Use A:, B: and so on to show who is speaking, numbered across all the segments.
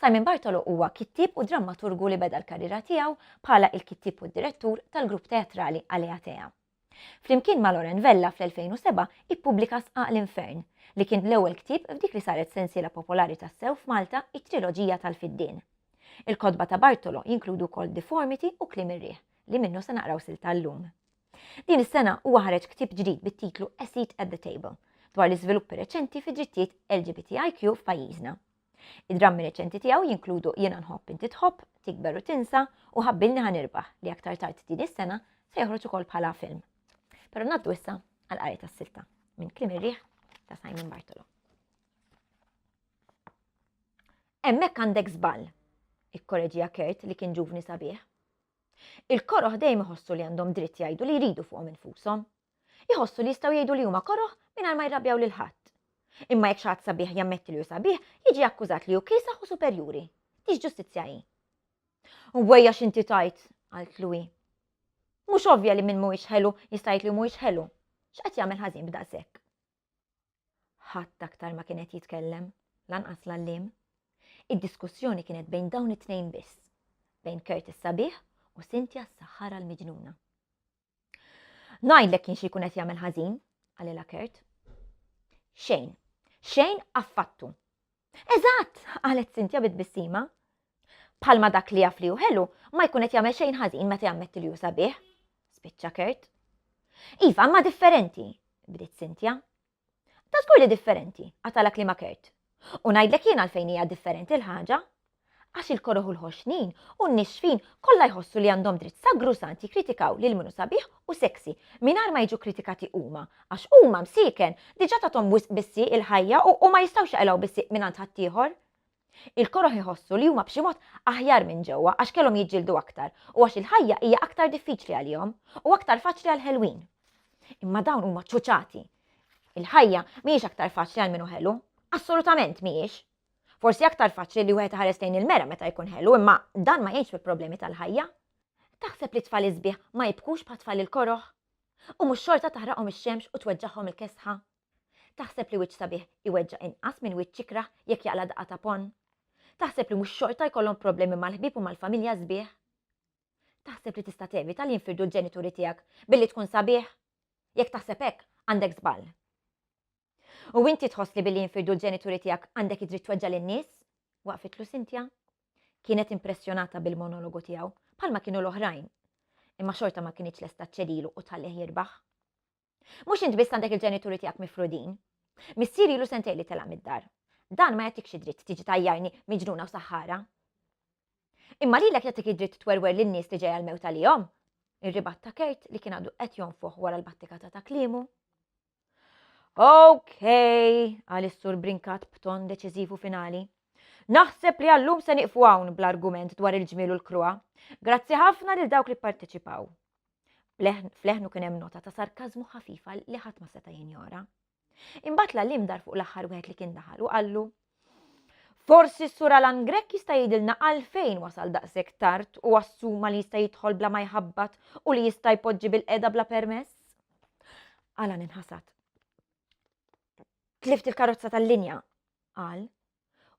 A: Simon Bartolo huwa kittieb u drammaturgu li beda l-karriera tiegħu bħala il-kittieb u d-direttur tal-grupp teatrali Aleatea. Flimkien ma' Loren Vella fl-2007 ippubblika Sqaq l-Infern, li kien l-ewwel ktieb f'dik li saret sensiela popolari tassew f'Malta, it-triloġija tal-Fiddien. Il-kotba ta' Bartolo jinkludu wkoll Deformity u Kliem ir-riħ, li minnu se naqraw silta llum. Din is-sena huwa ħareġ ktieb ġdid bit-titlu A Seat at the Table, dwar l-iżviluppi reċenti fid-drittijiet LGBTIQ f'pajjiżna. Id-drammi reċenti tiegħu jinkludu Jiena nħobb inti tħobb, Tikber u tinsa u Ħabbilni ħa nirbaħ li aktar tard din is-sena se joħroġ ukoll bħala film. Però ngħaddu issa għal qari tas-silta minn Klim ir-riħ ta' Simon Bartolo. Hemmhekk għandek żball, ikkoreġija Kert li kien ġuvni sabiħ. Il-koroħ dejjem iħossu li għandhom dritt jgħidu li jridu fuqhom infushom, Iħossu li jistgħu jgħidu li huma koroh mingħajr ma jirrabjaw lil ħadd. Imma jekk xi ħadd sabiħ jammetti li hu sabiħ, jiġi akkużat li hu kiesaħ u superjuri. Tix ġustizzja hi? Wejja x'inti tajt, qalt Louis. Mhux ovvja li min mhuwiex ħelu jista' jgħid li mhuwiex ħelu. X'qed jagħmel ħażin b'daqshekk? Ħadd aktar ma kien qed jitkellem, lanqas l-għalliem. Id-diskussjoni kienet bejn dawn it-tnejn biss, bejn Curtis sabiħ u Cynthia s-saħħara l-miġnuna. Ngħidlek kien xi jkun qed jagħmel ħażin, qalilha Kurt. Xejn. Xejn affattu. Eżatt, qalet Sintja bit-bissima. Palma dak li jaf li ħelu, ma jkun qed jagħmel xejn ħażin meta jammetti li jusa bih. Spiċċa Kurt. Iva, ma differenti, bdiet Sintja. Ta' żgur li differenti, għatalha kliema Kurt. U ngħidlek jien għalfejn hija differenti l-ħaġa. Għax il-koroh u l-ħoxnin u n-nixfin kollha jħossu li għandhom dritt sagrusant jikkritikaw lil min hu sabiħ u sexy mingħajr ma jiġu kkritikati huma għax huma msieken diġà tathom wisq bis-sieq il-ħajja u u ma jistgħux jaqilgħu bis-sieq mingħand ħaddieħor. Il-koroh iħossu li huma b'xi mod aħjar minn ġewwa għax kellhom jiġġieldu aktar u għax il-ħajja hija aktar diffiċli għalihom u aktar faċli għall-ħelwin. Imma dawn huma ċuċati. Il-ħajja mhijiex aktar faċli għal min hu ħelu. Assolutament mhijiex. Forsi aktar faċli li wieħed iħares lejn il-mera meta jkun ħelu imma dan ma jgħinx mill-problemi tal-ħajja. Taħseb li tfal isbieħ ma jibkux bħat-tfal il-koroh? U mhux xorta taħraqhom ix-xemx u tweġġagħhom il-kesħa? Taħseb li wiċċ sabiħ iweġġa' inqas minn wiċċ ikrah jekk jaqla' daqqa ta' ponn? Taħseb li mhux xorta jkollhom problemi mal-ħbieb u mal-familja sbieħ? Taħseb li tista' tevita li jinfirdu l-ġenituri tiegħek billi tkun sabiħ? Jekk taħseb hekk, għandek żball. U inti tħoss li billi jinfirdu l-ġenituri tiegħek għandek id-dritt tweġġa' lin-nies? Waqfitlu Cynthia. Kienet impressjonata bil-monologu tiegħu, bħalma kienu l-oħrajn. Imma xorta ma kinitx lesta ċċedilu u tħallih jirbaħ. Mhux int biss għandek il-ġenituri tiegħek mifrudin. Missieri ilu sentej li tela' mid-dar. Dan ma jagħtikx id-dritt tiġi tajjarni miġnuna u saħħara. Imma lilek jagħtik id-dritt twerwer lin-nies li ġejja l-mewt għalihom. Ir-ribat ta' Kurt li kien għadu qed jonfoħ wara l-battikata ta' kliemu. Ok, għal is-sur brinkat b'ton deċiżivu finali. Naħseb li għallum se niqfu hawn bl-argument dwar il-ġmiel u l-krua. Grazzi ħafna lil dawk li pparteċipaw. Fleħnu kien hemm nota ta' sarkażmu ħafifa li ħadd ma seta' jinjora. Imbagħad l-għallim dar fuq l-aħħar wieħed li kien daħal u qallu Forsi s-sur Alan Grek jista' jidilna għalfejn wasal daqshekk tard u assuma li jista' jidħol bla ma jħabbat u li jista' jpoġġi bil-qeda bla permess? Alan inħasad. Tlift il-karozza tal-linja, qal,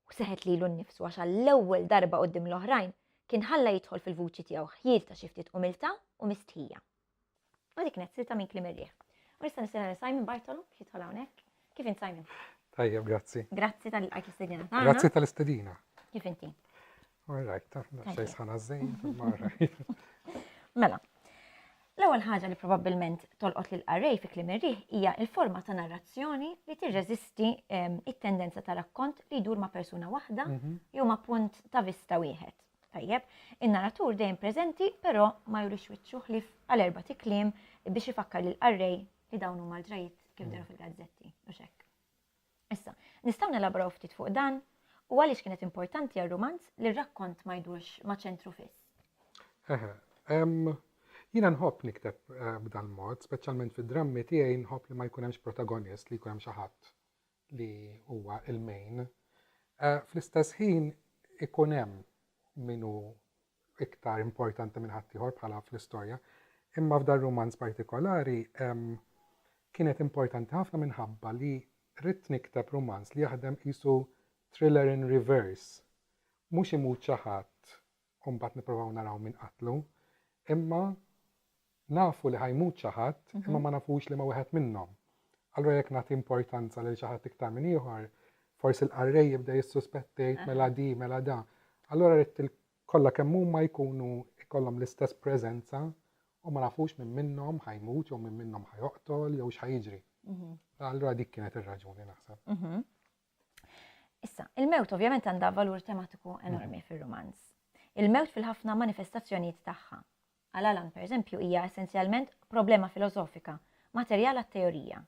A: u seħet lilu nnifsu għax għall-ewwel darba quddiem l-oħrajn kien ħalla jidħol fil-vuċi tiegħu ħjiel ta' xi ftit umiltà u mistħija. U dik kienet silta minn kliem ir-riħ. U nista' nistenna Simon Bartolo biex jidħol hawnhekk. Kif int Simon? Tajjeb, grazzi. Grazzi tal-qajt l-istedina. Grazzi tal-istedina. Kif inti? All right, tafna, xej sħana zzejt, marra. Mela, l-ewwel ħaġa li probabbilment tolqot lil qarrej fi klim irriħ hija l-forma ta' narrazzjoni li tirreżisti ehm, it-tendenza ta' rakkont li jdur ma' persuna waħda mhm. jew ma' punt ta' vista wieħed. Tajjeb, in-narratur dejjem preżenti però ma jurix wiċċu ħlif għal erba' tikliem biex ifakkar lil qarrej li dawn huma l-ġrajiet kif mhm. deru fil-gazzetti u xekk. Issa, nistgħu nelaboraw ftit fuq dan u għaliex kienet importanti għar-rumanz li r-rakkont ma jdurx ma' ċentru fiss? Eħe. Jiena nħobb nikteb b'dan mod, speċjalment fid-drammi tiegħi nħobb li ma jkun hemmx protagonist, li jkun hemm xi ħadd li huwa l-main. Fl-istess ħin ikun hemm min hu iktar importanti minn ħaddieħor bħala fl-istorja. Imma f'dar rumanz partikolari kienet importanti ħafna minħabba li ritt nikteb rumanz li jaħdem qisu thriller in reverse. Mhux imut xi ħadd u mbagħad nipprovaw naraw min qatlu, imma Nafu li ħa jmut xi ħadd, imma ma nafux liema wieħed minnhom. Allura jekk nagħti importanza lil xi ħadd iktar minn ieħor, forsi l-qarrej jibda jissuspetta jgħid mela di, mela da. Allura rrid kollha kemm huma jkunu jkollhom l-istess preżenza u ma nafux minn minnhom ħa jmut jew minn minnhom ħa joqtol jew x'ħa jiġri. Allura dik kienet ir-raġuni naħseb. Issa, il-mewt ovvjament għandha valur tematiku enormi fir-rumanz. Il-mewt fil-ħafna manifestazzjonijiet tagħha. Għal Alan, pereżempju, hija essenzjalment problema filosofika, materjal għat-teorija.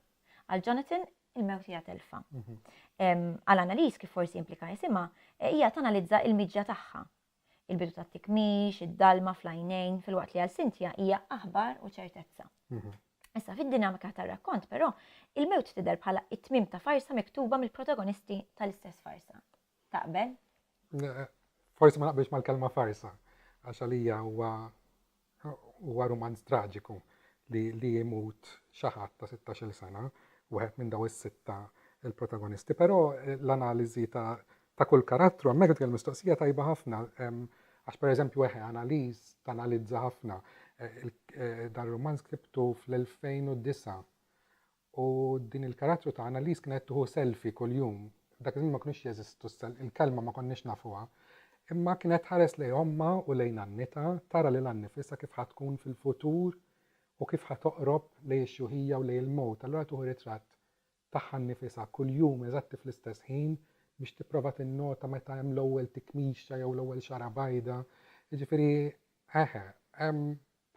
A: Għal Jonathan, il-mewt hija telfa. Għal Annalise, kif forsi implika jisimha, hija tanalizza il-miġja tagħha. Il-bidu tat-tikmix, id-dalma fl-għajnejn, filwaqt li għal Cynthia hija aħbar u ċertezza. Issa fid-dinamika tar-rakkont, però, il-mewt tidher bħala t-tmiem ta' farsa miktuba mill-protagonisti tal-istess farsa. Taqbel? Forsi ma naqbilx mal-kelma farsa, għax għalija huwa huwa rumanz traġiku li li jimut xi ħadd ta' 16-il sena, wieħed minn daw is-sitta il-protagonisti, però l-analiżi ta' ta' kull karattru, hemmhekk tkellem mistoqsija tajba ħafna, għax pereżempju eħe analiż tanalizza ħafna eh, eh, dan romanz ktibtu fl-2009 U din il-karattru ta' Annalise kienet qed tieħu selfie kuljum. Dak iż-żmien ma kinux jeżistu s-sel, il-kelma ma konniex nafuha. Imma kienet tħares lejn ommha u lejn għannitha, tara lilha nnifisha kif ħa tkun fil-futur u kif ħa toqrob lejn ix-xjuħija u lejn il-mewt, allura tieħu ritratt tagħha nnifisha kuljum eżatti fl-istess ħin biex tipprova tinnota meta hemm l-ewwel tikmixja jew l-ewwel xagħra bajda. Jiġifieri, eħe,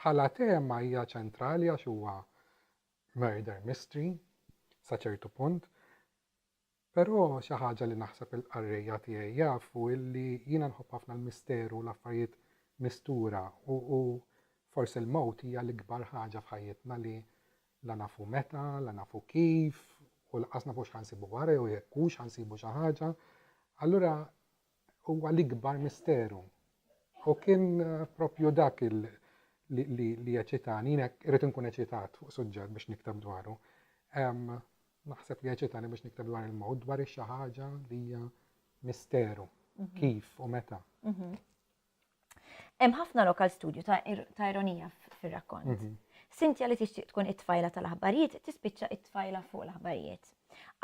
A: bħala tema hija ċentrali għax huwa murder mystery sa ċertu punt, però xi ħaġa li naħseb il-qarrejja tiegħi jafu illi jiena nħobb ħafna l-misteru u l-affarijiet mistura u u forsi l-mewt hija l-ikbar ħaġa f'ħajjitna li la nafu meta, la nafu kif u lanqas nafu x'ħa nsibu wara jew jekk hux ħa nsibu xi ħaġa. Allura huwa l-ikbar misteru. U kien propju dak li eċitani, jiena irrid inkun eċitat fuq suġġett biex nikteb dwaru. Naħseb li eċitani biex nikteb dwar il-mod, dwar xi ħaġa li hija misteru, mhm. kif u meta. Mhm. Hemm ħafna lokal studju ta' ir- ta' ironija f- fir-rakkont. Mhm. Sintja li tixtieq tkun it-tfajla tal-aħbarijiet tispiċċa it-tfajla fuq l-aħbarijiet.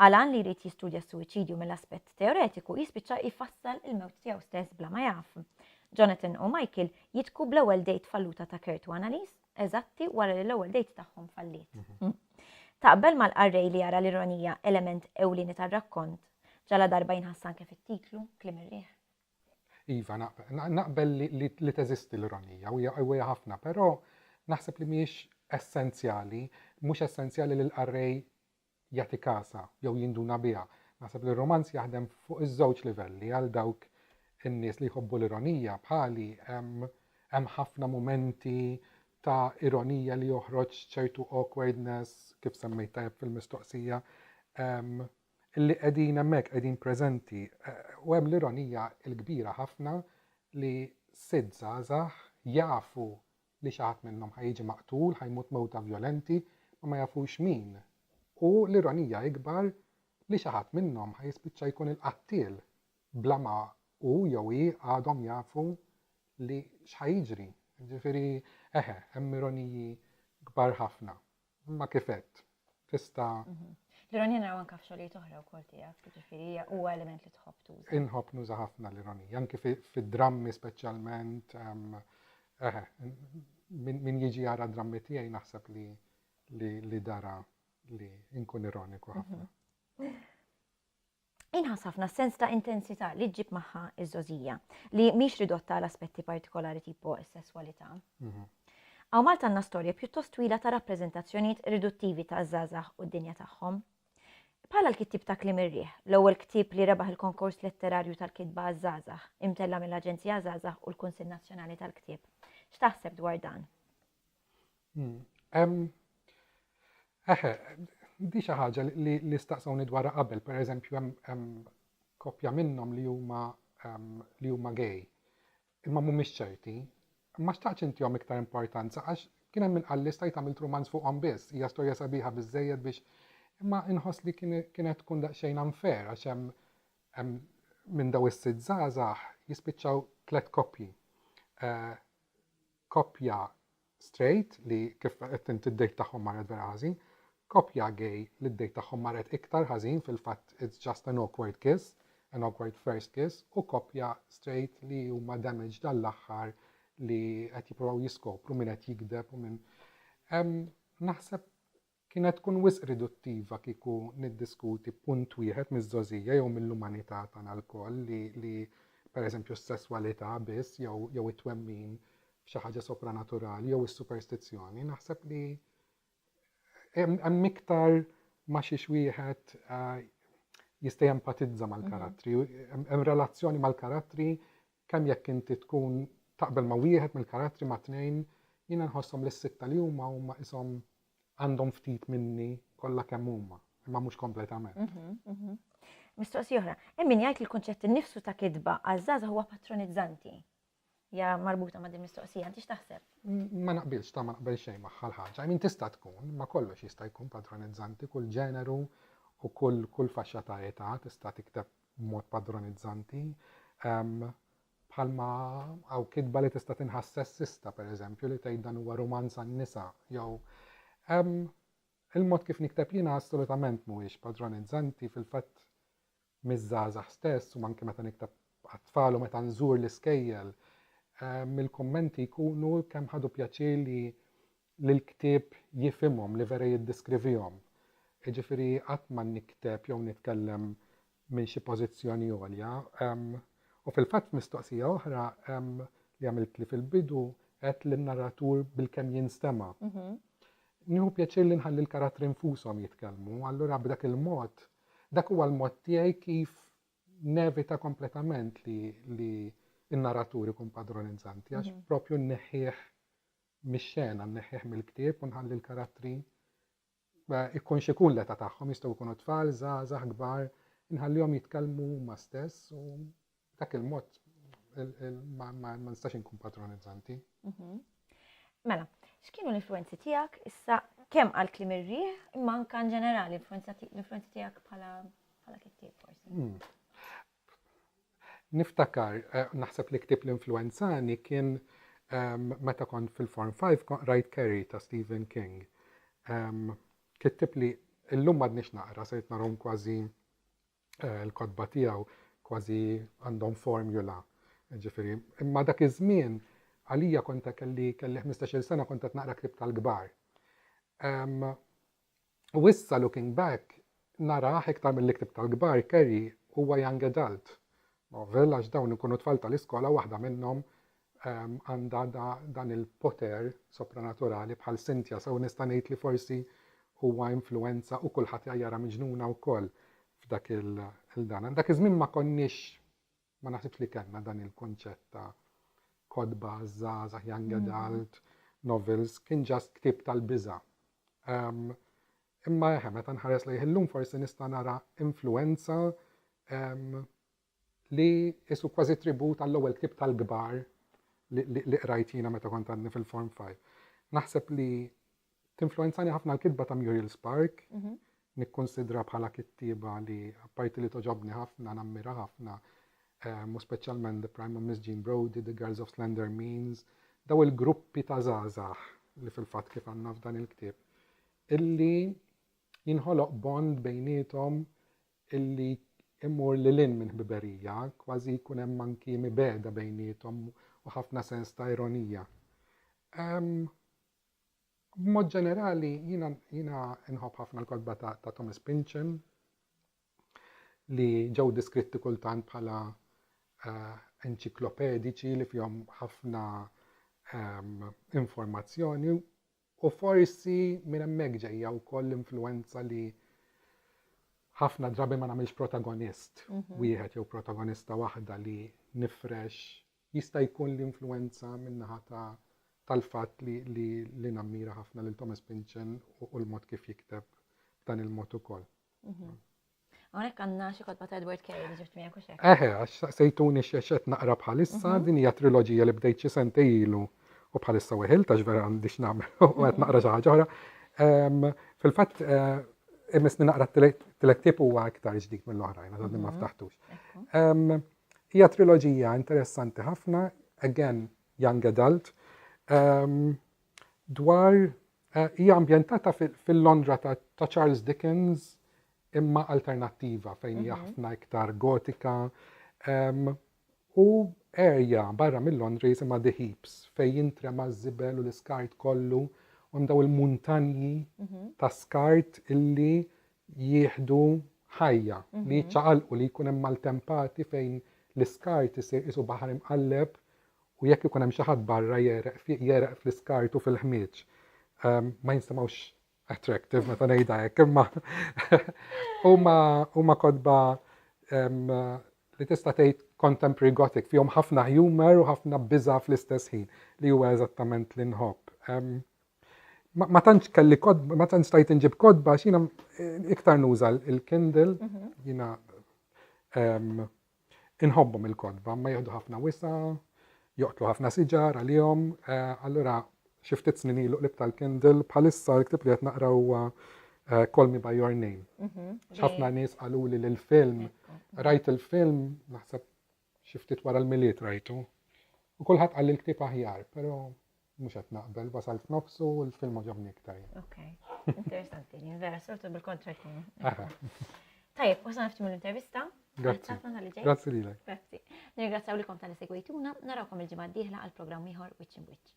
A: Alan li jrid jistudja s-suwiċidju mill-aspett teoretiku jispiċċa jfassal il-mewt tiegħu stess bla ma jaf. Jonathan u Michael jitku bl-ewwel dejt falluta ta' Kurt u Annalise eżatti wara li l-ewwel dejt tagħhom falliet. Taqbel mal-qarrej li jara l-ironija element ewlieni tar-rakkont, ġaladarba jinħass anke fit-titlu, Kliem ir-riħ? Iva, naqbel li teżisti l-ironija u hija ħafna, però naħseb li mhijiex essenzjali, mhux essenzjali li l-qarrej jagħti kasha jew jinduna biha. Naħseb li r-rumanz jaħdem fuq iż-żewġ livelli għal dawk in-nies li jħobbu l-ironija bħali hemm ħafna mumenti ta' ironija li joħroġ ċertu awkwardness kif semmejt tajjeb fil-mistoqsija li qegħdin hemmhekk, qegħdin preżenti. U hemm l-ironija l-kbira ħafna li sitt żgħażagħ jafu li xi ħadd minnhom ħa jiġi maqtul, ħa jmut mewta vjolenti, ma ma jafux min. U l-ironija ikbar li xi ħadd minnhom ħa jispiċċa jkun il-qattiel bla ma hu jew hi għadhom jafu li x'ħa jiġri. Jiġifieri, eħe, hemm ironiji kbar ħafna. Imma kif qed, tista' mhm. L-ironija naraw anke f'xogħlijiet oħra wkoll tiegħek, jiġifieri hija huwa element li tħobb tuża. Inħobb nuża ħafna l-ironija, anke fid-drammi speċjalment. Ehm, eħe, min jiġi jara drammi tiegħi naħseb li li dara li nkun ironiku mhm. ħafna. Inħass ħafna s-sens ta' intensità li ġġib magħha ż-żgħożija, li mhix ridotta għal aspetti partikolari tipo s-sesswalità. Hawn Malta għandna storja pjuttost twila ta' rappreżentazzjonijiet riduttivi taż-żgħażagħ u d-dinja tagħhom. Bħala l-kittieb ta' Kliem ir-Riħ, l-ewwel ktieb li rebaħ il-Konkors Letterarju tal-Kitba għaż-Żgħażagħ, imtella' mill-Aġenzija Żgħażagħ u l-Kunsill Nazzjonali tal-Ktieb. X'taħseb dwar dan? Hemm eħe, di xi ħaġa li li staqsawni dwarha qabel, pereżempju hemm hemm koppja minnhom li huma li huma gay. Imma mhumiex ċerti. Ma xtaqx intihom iktar importanza għax kien hemm min qal li stajt għamilt rumanz fuqhom biss, hija storja sabiħa biżżejjed biex imma inħoss li kienet tkun daqsxejn unfair għax hemm hemm minn daw is-sitt żgħażagħ jispiċċaw tliet koppji. Eh, Koppja straight li kif qed int id-date tagħhom marret vera ħażin. Koppja gay li d-date tagħhom marret iktar ħażin fil-fatt it's just an awkward kiss, an awkward first kiss u koppja straight li huma damaged għall-aħħar li qed jippruvaw jiskopru min qed jigdeb u min. Naħseb Kienet tkun wisq riduttiva kieku niddiskuti punt wieħed miż-żgħożija jew mill-umanità tagħna lkoll li, li, per eżempju, s-sesswalità biss jew, jew it-twemmin f'xi ħaġa sopranaturali jew is-superstizzjoni. Naħseb li hemm, hemm iktar ma' xiex wieħed jista' jempatizza mal-karattri. Hemm, hemm relazzjoni mal-karattri Kemm jekk inti tkun taqbel ma' wieħed mill-karattri ma' tnejn, jiena nħosshom li s-sitta li huma huma qishom għandhom ftit minni kollha kemm huma, imma mhux kompletament. Mistoqsija oħra, hemm min jgħid li l-kunċett innifsu ta' kitba għaż-żgħażagħ huwa patronizzanti. Hija marbuta ma' din mistoqsija, inti x'taħseb? Ma naqbilx, ta' ma naqbel xejn magħha l-ħaġa. I mean tista' tkun, ma kollox jista' jkun patronizzanti, kull ġeneru u kull faxxa ta' età tista' tikteb b'mod padronizzanti, bħalma hawn kitba li tista' tinħass sessista, pereżempju, li tgħid dan huwa rumanz għan-nisa, jew il-mod kif nikteb jiena assolutament mhuwiex padronizzanti fil-fatt miż-żgħażagħ stess u anke meta nikteb għat-tfal u meta nżur l-iskejjel, mill-kummenti jkunu kemm ħadu pjaċir li li l-ktieb jifhimhom, li vera jiddiskrivihom. Jiġifieri qatt ma nikteb jew nitkellem minn xi pożizzjoni għolja. U fil-fatt f'mistoqsija oħra li għamiltli fil-bidu għedt li n-narratur bilkemm jinstema'. Mhm. Nieħu pjaċir li nħalli l-karattri nfushom jitkellmu, allura b'dak il-mod dak huwa l-mod tiegħi kif nevita kompletament li n-narratur ikun padronizanti għax mhm. propju nneħħih mix-xena, nneħħih mill-ktieb u nħalli l-karattri ikun x'ikun l-età tagħhom, jistgħu jkunu tfal, żgħażagħ, kbar, inħallihom jitkellmu huma stess u b'dak il-mod ma nistax inkun patronizzanti. Mhm. Mela, x'kienu l-influenzi tiegħek issa kemm għal klim ir-riħ imma anke ġenerali l-influenzi tiegħek bħala kittieb forsi? Hmm. Niftakar, naħseb li ktieb li influwenzani kien meta kont fil-Form Five kont qrajt Carrie ta' Stephen King. Kittieb li llum m'għadniex naqra, sirt narhom kważi eh, l-kotba tiegħu kważi għandhom formula. Ġifieri, imma dak iż-żmien għalija kont kelli kelli 15-il sena kont qed naqra ktieb tal-kbar. U issa looking back narah iktar milli ktibt tal-kbar Kerry huwa young adult novel għax dawn ikunu tfal tal-iskola waħda minnhom għandha dan il-poter sopranaturali bħal Cynthia sew nista' ngħid li forsi huwa influwenza u kulħadd jgħajjarha miġnuna wkoll f'dak il-dan. Dak iż-żmien ma konniex Ma naħsibx li kellna dan il-kunċett ta' kotba żgħażagħ, young adult, novels, kien ġast ktieb tal-biża'. Ehm, imma eħe, meta nħares lejh illum forsi nista' nara influenza ehm, li isu kważi tribut għall-ewwel ktieb tal-kbar li qrajt jiena meta kont għadni fil-Form 5. Naħseb li Tinfluwenzani ħafna l-kitba ta' Muriel Spark. Nikkunsidraha bħala kittieba li apparti li togħġobni ħafna, nammira ħafna, u speċjalment The Prime of Miss Jean Brodie, The Girls of Slender Means, dawn il-gruppi ta' żgħażagħ li fil-fatt kif għandna f'dan il-ktieb, illi jinħoloq bond bejniethom illi jmur lil hinn minn ħbiberija, kważi jkun hemm anki mibegħda bejniethom u ħafna sens ta' ironija. B'mod ġenerali jiena jiena nħobb ħafna l-kotba ta' ta' Thomas Pynchon li ġew deskritti kultant bħala eh, enċiklopediċi li fihom ħafna ehm, informazzjoni u forsi minn hemmhekk ġejja wkoll l-influenza li ħafna drabi ma nagħmilx protagonist mhm. wieħed jew protagonista waħda li nifrex Jista' jkun li influwenza min-naħa ta' tal-fatt li li li nammira ħafna lil Thomas Pynchon u u l-mod kif jikteb b'dan il-mod ukoll. Hawnhekk għandna xi kotba ta' Edward Carey li ġibt miegħek, hux hekk? Eħe, għax saqsejtuni x'għax qed naqra bħalissa, din hija triloġija li bdejt xi sentej ilu u bħalissa weħilt għax vera għandi x'nagħmel u qed naqra xi ħaġa oħra. Fil-fatt imissni naqra t-tielet ktieb huwa iktar ġdid mill-oħrajn għax għadni ma ftaħtux. Ekku. Hija triloġija interessanti ħafna, again young adult, ehm, dwar eh, hija ambjentata fil-Londra ta' Charles Dickens imma alternattiva fejn hija mhm. ħafna iktar gotika ehm, u erja barra mill-Londra jisimha The Heaps fejn jintrema ż-żibel u l-iskart kollu għandaw il-muntanji mhm. ta' skart illi jieħdu ħajja, li jiċċaqalqu, li jkun hemm maltempati fejn l-iskart isir qisu baħar imqalleb u jekk ikun hemm xi ħadd barra jegħreq fih, jegħreq fl-iskart u fil-ħmieġ. Ehm, ma jinsemgħux attractive meta ngħidha hekk, imma huma huma kodba li tista' tgħid contemporary gothic fihom ħafna humor u ħafna biża fl-istess ħin li huwa eżattament li nħobb. Ma tantx kelli kodba, ma tantx tajt inġib kodba, xina iktar nuża il-Kindle, mhm. jina inħobbhom il-kodba, ma jieħdu ħafna wisa, joqtlu ħafna siġar għalihom, eh, allura xi ftit snin ilu qlib tal-Kindle bħalissa l-ktib li qed naqra huwa eh, Call Me By Your Name. Mhm. Ħafna nies qaluli li l-film, rajt il-film, naħseb Xi ftit wara l-Milied rajtu u kulħadd qal li l-ktieb aħjar, però mhux qed naqbel, wasalt f'nofsu u l-film għaġobni iktar. Ok, interessanti, vera sortu bil-kontra jkunu. Tajjeb, wasalna ftit mill-intervista. Grazzi. Grazzi lilek. Grazzi. Nirgrazzaw likom tal segwejtuna, narawkom il-ġimgħa d-dieħla għal programm ieħor Witch in Witch.